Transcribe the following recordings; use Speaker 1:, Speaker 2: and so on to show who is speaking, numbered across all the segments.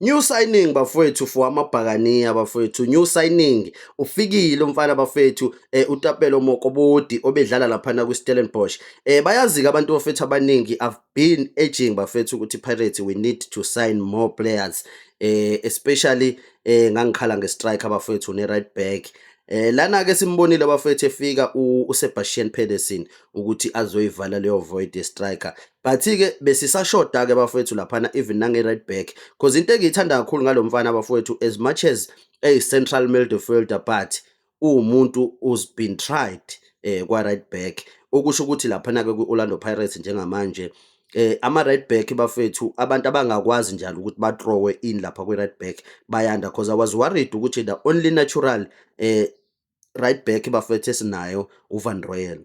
Speaker 1: New signing bafowethu for amabhakaniya bafowethu new signing ufikile umfana bafowethu eh, utapelo mokobodi obedlala laphana kwiStellenbosch eh bayazika abantu bafowethu abaningi I've been urging bafowethu ukuthi Pirates we need to sign more players eh especially eh ngangikhala ngestriker bafowethu ne right back Eh lana ke simbonile bafethu efika uSebastian Pedersen ukuthi azoyivala leyo void striker But-ke besisashoda-ke bafowethu laphana even nange-right back because into engiyithanda kakhulu ngalo mfana bafowethu as much as eyi-central midfielder but uwumuntu who's been tried eh kwa-right back okusho ukuthi laphana-ke kwi-orlando pirates njengamanje eh ama-right back bafethu abantu abangakwazi njalo ukuthi batrowe in lapha kwi-right back bayanda because i was worried ukuthi the only natural eh right back bafethu esinayo uvan royal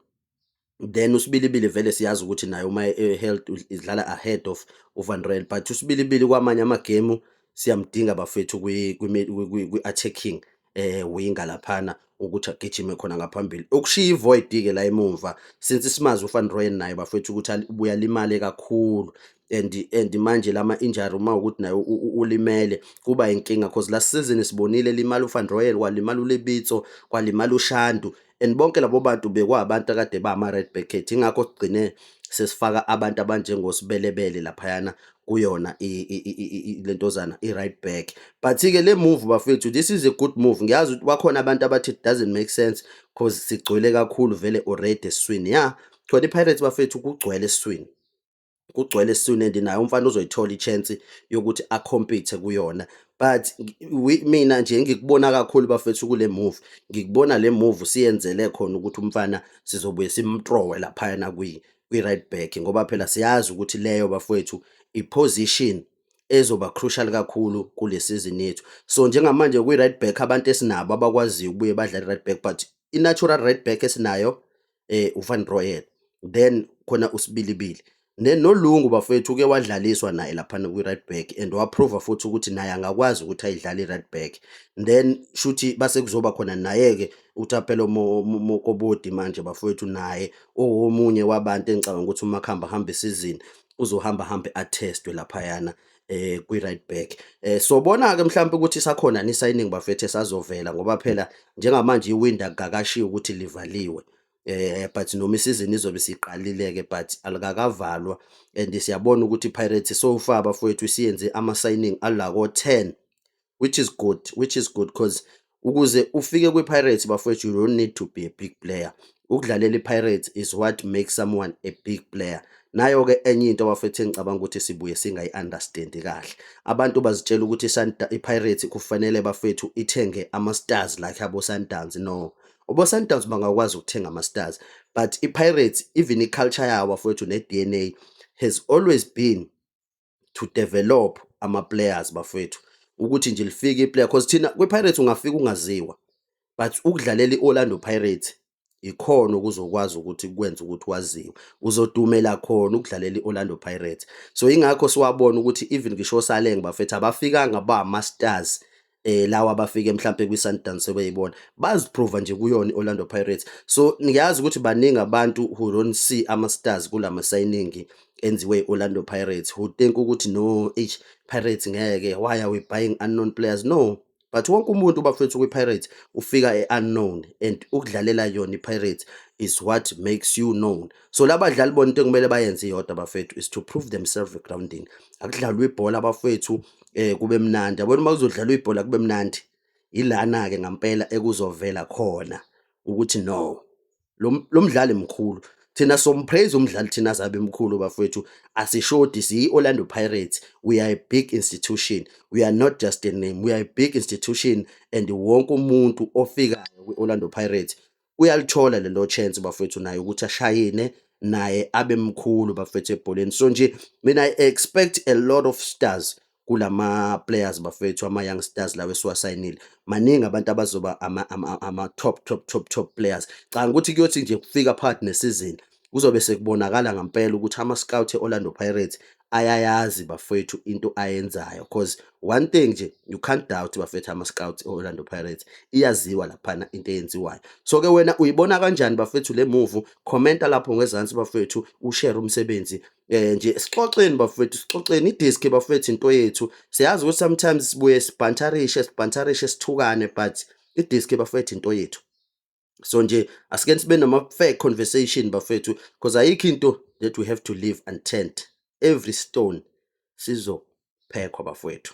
Speaker 1: then usibilibili vele siyazi ukuthi naye uma e-health idlala ahead of uvan rel but usibilibili kwamanye amagemu siyamdinga bafethu kwi-attacking eh winga laphana ukuthi agijime khona ngaphambili okushiya ivoid ke la emumva since simazi uFan Royen naye bafethu ukuthi ubuya limale kakhulu and and manje lama injury uma ukuthi naye ulimele kuba inkinga because last season sibonile limala uFan Royen kwalimala uLebitso kwalimala uShandu and bonke labo bantu bekwabantu akade bama-red backet ingakho sigcine sesifaka abantu abanjengosibelebele laphayana kuyona le ntozana i-right back but-ke le move bafethu this is a good move ngiyazi ukuthi bakhona abantu abathi it doesn't make sense because sigcwele kakhulu vele already esiswini ya khona i-pirates bafethu kugcwele esiswini kugcwele soon and naye umfana uzoyithola i-chance yokuthi akhompithe kuyona but mina nje ngikubona kakhulu bafethu kule move ngikubona le move siyenzele khona ukuthi umfana sizobuye simtrowe laphayana kwi-right back ngoba phela siyazi ukuthi leyo bafowethu i-position ezoba crucial kakhulu kule season yethu so njengamanje kwi-right back abantu esinabo abakwaziyo ukubuye badlale i-right back but i-natural right back esinayo eh uFan Royal then khona usibilibili nenolungu bafethu uke wadlaliswa naye lapha kwi right back and waprova futhi ukuthi naye angakwazi ukuthi ayidlale right back then shuthi base kuzoba khona naye ke uthaphelo mokobodi manje bafethu naye owomunye wabantu engicabanga ukuthi umakhamba hamba isizini uzohamba hambe atestwe lapha yana eh kwi right back eh sobona ke mhlawumbe ukuthi sakhona ni signing bafethu esazovela ngoba phela njengamanje iwindow akakashiya ukuthi livaliwe eh but noma isizini izobe siqalileke but alikakavalwa and siyabona ukuthi Pirates so far bafowethu isiyenze ama signing alako 10 which is good which is good cause ukuze ufike kwi-pirates bafowethu you don't need to be a big player ukudlalela i-pirates is what makes someone a big player nayo-ke enye into abafethu engicabanga ukuthi sibuye singayi-understandi kahle abantu bazitshela ukuthi i-pirates kufanele bafethu ithenge ama-stars like abo-sundowns no obo-sundowns bangakwazi ukuthenga ama-stars but i-pirates even i-culture yawo bafowethu ne-d n a has always been to develop ama players bafethu ukuthi nje lifike iplayer because thina kwiPirates ungafika ungaziwa but ukudlalela iOrlando Pirates ikhona okuzokwazi ukuthi kwenze ukuthi waziwe uzodumela khona ukudlalela iOrlando Pirates so ingakho siwabona ukuthi even ngisho oSaleng bafethu abafikanga ba masters eh lawa abafike mhlambe kwi Sundowns sebeyibona baziprova nje kuyona iOrlando Pirates so ngiyazi ukuthi baningi abantu who don't see ama stars kulama signing enziwe iOrlando Pirates who think ukuthi no H Pirates ngeke why are we buying unknown players no but wonke umuntu bafethu kwi Pirates ufika e unknown and ukudlalela yona iPirates is what makes you known so labadlali bona into kumele bayenze iyodwa bafethu is to prove themselves egroundini akudlalwa ibhola bafethu eh kube mnandi yabona uma kuzodlalwa ibhola kube mnandi ilana ke ngampela ekuzovela khona ukuthi no lo mdlali mkhulu thina sompraise umdlali thina azabe mkhulu bafethu asishodi siyi-orlando pirates we are a big institution we are not just a name we are a big institution and wonke umuntu ofikayo kwi-orlando pirates uyalithola lelo chance bafethu naye ukuthi ashayine naye abe mkhulu bafethu ebholeni so nje mina i expect a lot of stars kulama players bafethu ama young stars lawo esiwasayinile maningi abantu abazoba ama, ama, ama top top top top players canga ukuthi kuyothi nje kufika part ne season Kuzobe sekubonakala ngampela ukuthi ama-scout e-Orlando Pirates ayayazi bafethu into ayenzayo because one thing nje you can't doubt bafethu ama-scout e-Orlando Pirates iyaziwa laphana into eyenziwayo so-ke wena uyibona kanjani bafethu le move commenta lapho ngezansi bafethu ushare umsebenzi eh nje sixoxeni bafethu sixoxeni idisk bafethu into yethu siyazi ukuthi sometimes sibuye sibhantarishe sibhantarishe sithukane but idisk bafethu into yethu so nje asike sibe nama fair conversation bafethu because ayikho into that we have to live untent every stone sizophekwa bafethu